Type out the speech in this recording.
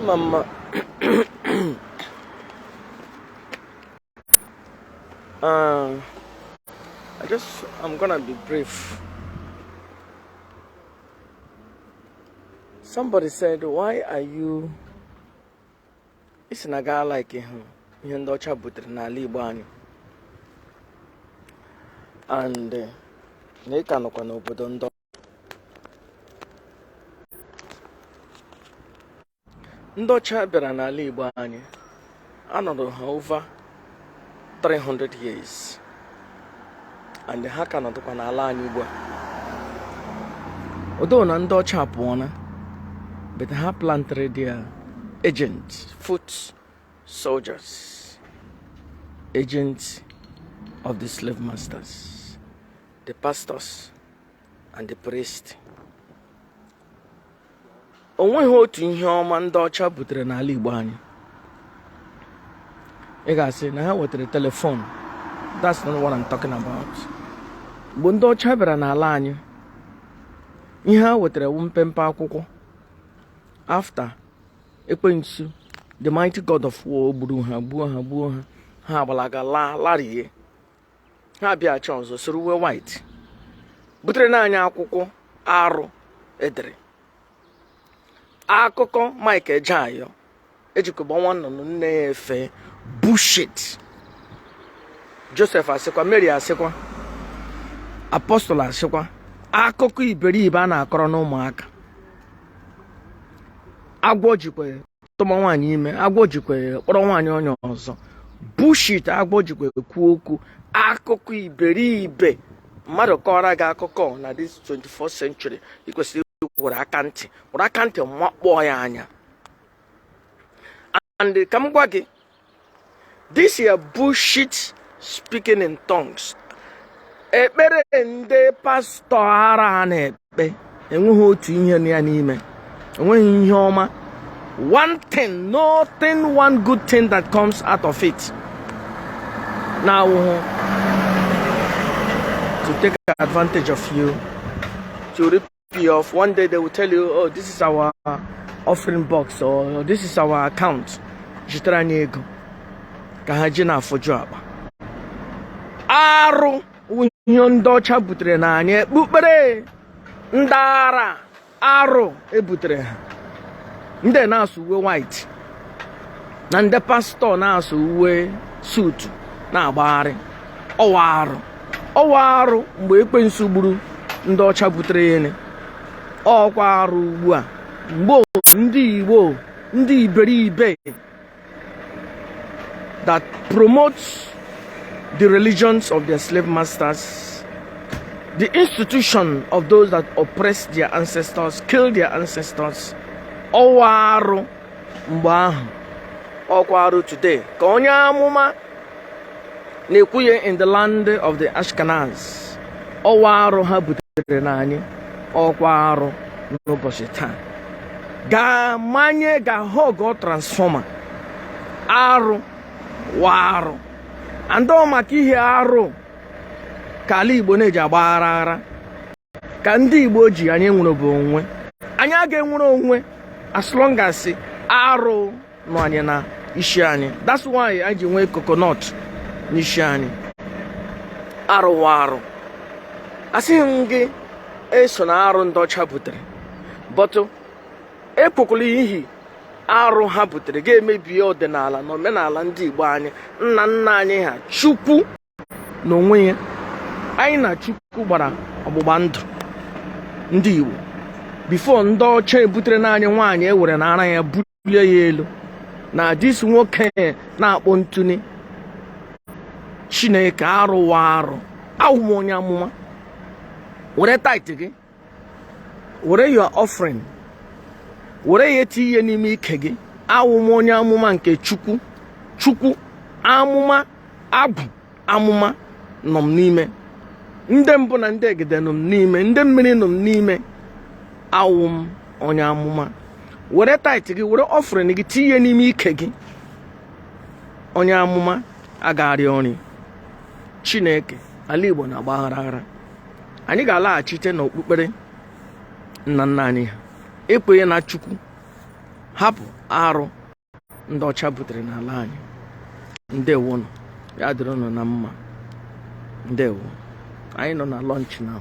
mma mma uh, I just I'm gonna be brief somebody said why are you isi na gaa like hụ ihe ndị ọcha butere n'ala igbo anyị and eh, na ị ka nọkwa n'obodo ndị ndị ọcha bịara n'ala igbo anyị anọrọ ha over 300 years and ha ka nọdụkwa n'ala anyị ugbu a although na ndị ọcha apụọna but ha plantere their agent foot soldiers agent of the slave masters the pastors and the priest o nweghị otu ihe ọma ndị ọcha butere n'ala Igbo anyị ị ga-asị na ha wetara telephone that's not what I'm talking about mgbe ndị ọcha bịara n'ala anyị ihe ha wetara wu mpempe akwụkwọ after ekwensu the mighty god of war gburu ha gbuo ha gbuo ha ha agbalaga laa larie ha bịaghachi ọzọ sụrụ uwe white butere na anyị akwụkwọ arụ edere akụkọ Mike Ejeagha ejikọba nwa nnụnụ nne ya efe bullshit Joseph asịkwa Mary asịkwa apostle asịkwa akụkọ iberibe a na-akọrọ n'ụmụaka agwọ jikwa tụma nwaanyị ime agwọ jikwa kpọrọ nwaanyị onye ọzọ bullshit agwọ jikwa kwuo okwu akụkọ iberibe mmadụ kọọrọ gị akụkọ na this 24th century ị kwesịrị were aka ntị were aka ntị makpọọ ya anya and ka m gwa gị this your bullshit speaking in tongues ekpere ndị pastọ ara ha na-ekpe enweghị otu ihe nọ ya n'ime enweghị ihe ọma one thing nothing one good thing that comes out of it na-awụhụ to take advantage of you to rip Off one day they will tell you, oh, this is our offering box or this is our account. Zitera anyị ego ka ha ji na-afụju akpa. Arụ ihe ndị ọcha butere na anyị okpukpere ndị ara arụ ebutere ha. Ndị na-asụ uwe white na ndị pastọ na-asụ uwe suit na-agbagharị ọ wụ arụ. ọ wụ arụ mgbe ekwensu gburu ndị ọcha butere ya and ọ kwa arụ ugbu a mgbe ndị igbo ndị iberibe that promote the religions of their slave masters the institution of those that oppress their ancestors kill their ancestors ọ wụ arụ mgbe ahụ ọkwa arụ today ka onye amụma na-ekwuye in the land of the ashkenaz ọ wụ arụ ha butere na anyị ọkwa arụ n'ụbọchị taa ga-amanye gaa hug transformer arụ wụ arụ and maka ihe arụ ka ala igbo na-eji agba aghara aghara ka ndị Igbo ji anyị enwerebe onwe anyị aga-enwere onwe as long as arụ nọ anyị na isi anyị that's why anyị ji nwee coconut n'isi anyị arụ wụ arụ asịghị m gị esona arụ ndị ọcha butere but ekwekwala ihe arụ ha butere ga-emebi ọdịnala na omenala ndị Igbo anyị nna nna anyị ha chukwu n'onwe ya anyị na Chukwu gbara ọgbụgba ndụ ndị Igbo before ndị ọcha ebutere naanị nwaanyị ewere na ara ya bulie ya elu na this nwoke na-akpọ ntụni Chineke arụ wụ arụ awụ m onye amụma were tithe gị were your offering were ya tinye n'ime ike gị awụ m onye amụma nke chukwu chukwu amụma agwụ amụma nọ m n'ime ndị mbụ na ndị egede nọ m n'ime ndị mmiri nọ m n'ime awụ m onye amụma were tithe gị were offering gị tinye n'ime ike gị onye amụma agagharị ọrị chineke ala igbo na-agba aghara aghara anyị ga-alaghachite n'okpukpere nna nna anyị ha ekwenye na chukwu hapụ arụ ndị ọcha butere n'ala anyị ndewonụ ya dịrị ụnụ na mma ndewo anyị nọ na lunch now